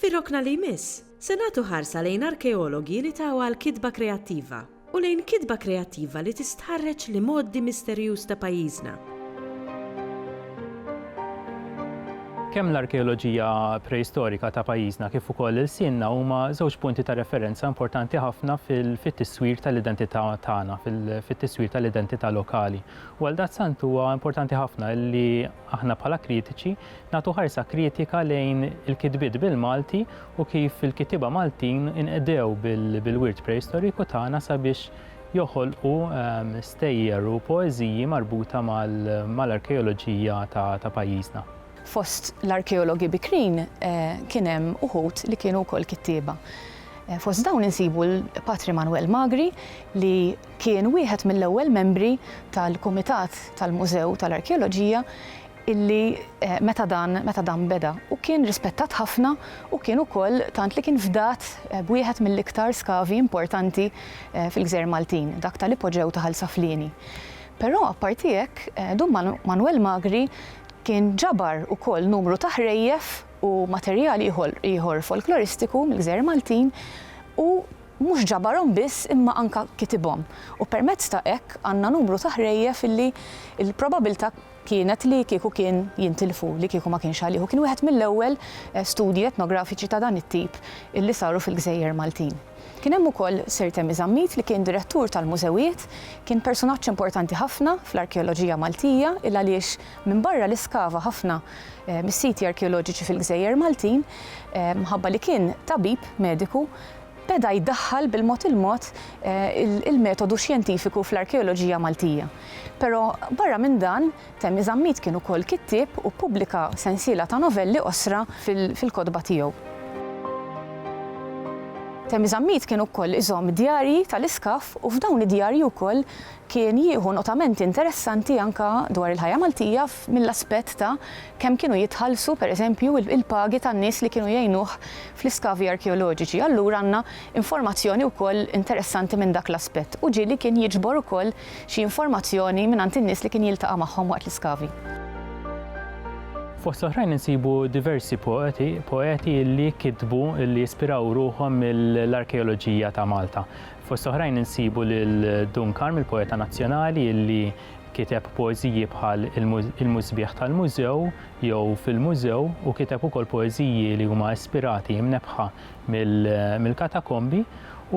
Fir-rokna li jmiss, se nagħtu ħarsa lejn arkeologi li taw għal kitba kreattiva u lejn kitba kreattiva li tistħarreġ l-imgħoddi misterjuż ta' pajjiżna. Kemm l-arkeoloġija preistorika ta' pajjiżna kif ukoll ilsienna huma żewġ punti ta' referenza importanti ħafna fit-tiswir tal-identità tagħna, fit-tiswir tal-identità lokali. U għaldaqstant huwa importanti ħafna li aħna bħala kritiċi Nagħtu ħarsa kritika lejn il-kitbiet bil-Malti u kif il-kittieba Maltin inqdew bil-wirt preistoriku tagħna sabiex joħolqu stejjer u poeżiji marbuta mal-arkeoloġija ta' pajjiżna. Fost l-arkeologi bikrin kien hemm uħud li kienu wkoll kittieba. Fost dawn insibu l-Patri Manwel Magri li kien wieħed mill-ewwel membri tal-Kumitat tal-Mużew tal-Arkeoloġija illi meta dan meta dan beda u kien rispettat ħafna u kien ukoll tant li kien fdat b'wieħed mill-iktar skavi importanti fil-gżejjer Maltin, dak tal-ipoġew ta' Ħal Saflieni. Però apparti hekk, Dun Manwel Magri kien ġabar ukoll numru ta' ħrejjef u materjal ieħor folkloristiku mill-gżejjer Maltin u mhux ġabarhom biss imma anke kitibhom u permezz ta' hekk għandna numru ta' ħrejjef illi l-probabilità kienet li kieku kien jintilfu, li kieku ma kienx għalih. U kien wieħed mill-ewwel studji etnografiċi ta' dan it-tip li saru fil-gżejjer Maltin. Kien hemm ukoll Sir Temi Zammit li kien direttur tal-mużewijiet, kien persunaġġ importanti ħafna fl-arkeoloġija Maltija il-għaliex minbarra li skava ħafna mis-siti arkeoloġiċi fil-gżejjer Maltin, mħabba li kien tabib, mediku, beda jdaħħal bil-mod il-mod il-metodu xjentifiku fl-arkeoloġija Maltija. Però barra minn dan, Temmi Zammit kien ukoll kittieb u ppubblika sensiela ta' novelli qosra fil-kotba tiegħu. Temmi Zammit kien ukoll iżomm djarji tal-iskaff u f'dawn id-djarji wkoll Kien jieħu notamenti interessanti anke dwar il-ħajja Maltija mill-aspett ta' kemm kienu jitħallsu, per eżempju, il-pagi tan-nies li kienu jgħinuh fl-iskavi arkeoloġiċi. Allura għandna informazzjoni wkoll interessanti minn dak l-aspett. U ġieli kien jiġbor ukoll xi informazzjoni mingħand in-nies li kien jiltaqa' magħhom waqt l-iskavi. Fost l-oħrajn insibu diversi poeti li kitbu li jispiraw ruħhom mill-arkeoloġija ta' Malta. Fost oħrajn insibu lil Dun Karm, il-poeta nazzjonali li kiteb poeżiji bħal Il-Musbieħ tal-Mużew jew Fil-Mużew u kiteb ukoll poeżiji li huma ispirati mnebbħa mill-katakombi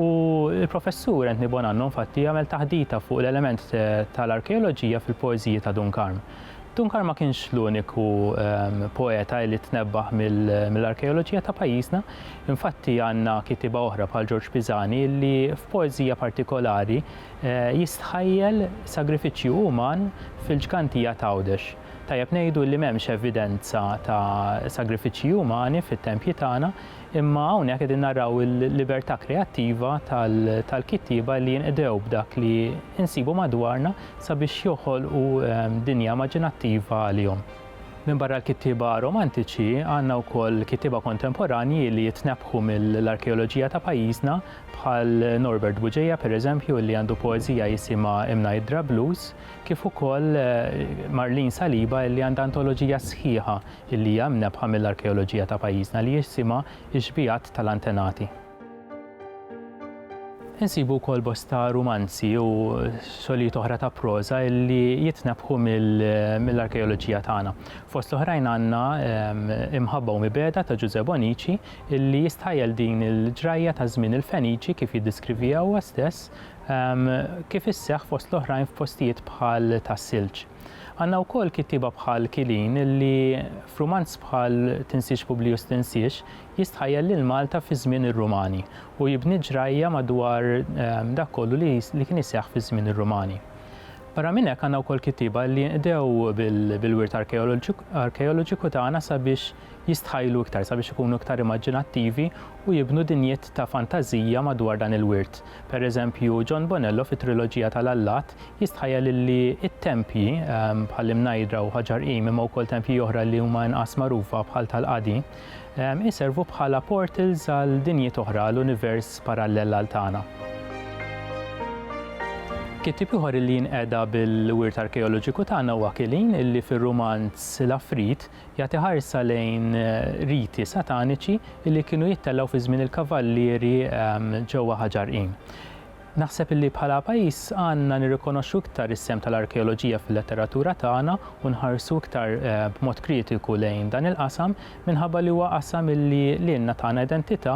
u l-Professur Anthony Bonanno infatti għamel taħdita fuq l-element tal-arkeoloġija fil-poeżiji ta' Dun Karm. Tunkar ma kienx l-uniku poeta li tnebbaħ mill-arkeoloġija ta' pajjiżna, infatti għandna kitiba oħra bħal Ġorġ Pisani li f'poeżija partikolari jistħajjel sagrifiċċju uman fil-ġgantija t'Għawdex. Tajjeb ngħidu li m'hemmx evidenza ta' sagrifiċċji umani fit-tempji tagħna, Imma hawnhekk qegħdin naraw il-libertà kreattiva tal-kittieba li jinqdew b'dak li nsibu madwarna sabiex joħolqu dinja immaġinattiva għalihom. Minbarra l-kittieba romantiċi, għandna wkoll kittieba kontemporanji li jitnebbħu mill-arkeoloġija ta' pajjiżna bħal Norbert Buġeja pereżempju li għandu poeżija jisimha Imnajdra Blues kif ukoll Marlene Saliba li għandha antoloġija sħiħa li hija imnebbħa mill-arkeoloġija ta' pajjiżna li jisimha x-xbijat tal-antenati. Insibu wkoll bosta rumanzi u xogħlijiet oħra ta' proża li jitnebbħu mill-arkeoloġija tagħna. Fost l-oħrajn għandna Imħabba u Mibegħda ta' Ġużè Bonnici li jistħajjel din il-ġrajja ta' żmien il-Feniċi kif jiddiskrivija huwa stess kif isseħħ fost l-oħrajn f'postijiet bħal Tas-Silġ. Għandna wkoll kittieba bħal Killeen li f'rumanz bħal Tinsiex Publiju Stinsiex jistħajjel lil Malta fi żmien ir-Rumani u jibni ġrajja madwar dak kollu li kien iseħħ fi żmien ir-Rumani. Barra minn hekk għandna wkoll kittieba li jinqdew bil-wirt arkeoloġiku tagħna sabiex jistħajjlu iktar, sabiex ikunu iktar imaġinattivi u jibnu dinjiet ta' fantażija madwar dan il-wirt. Per eżempju, John Bonello fit-triloġija tal-allat jistħajja lilli t-tempji, bħall-imnajdra u ħaġar qim imma wkoll tempji oħra li huma inqas magħrufa bħal tal-qadi, iservu bħala portals għal dinjiet oħra, għal univers parallel għal tagħna. Kittieb ieħor li jinqeda bil-wirt arkeoloġiku tagħna huwa Killeen illi fir-rumanz L-Għafrit Jagħti ħarsa lejn riti sataniċi li kienu jittellgħu fi żmien il-kavallieri ġewwa Ħaġar Inn. Naħseb illi bħala pajjiż għandna nirrikonoxxu iktar is-sehem tal-arkeoloġija fil-letteratura tagħna u nħarsu iktar b'mod kritiku lejn dan il-qasam minħabba li huwa qasam illi lilna tana identità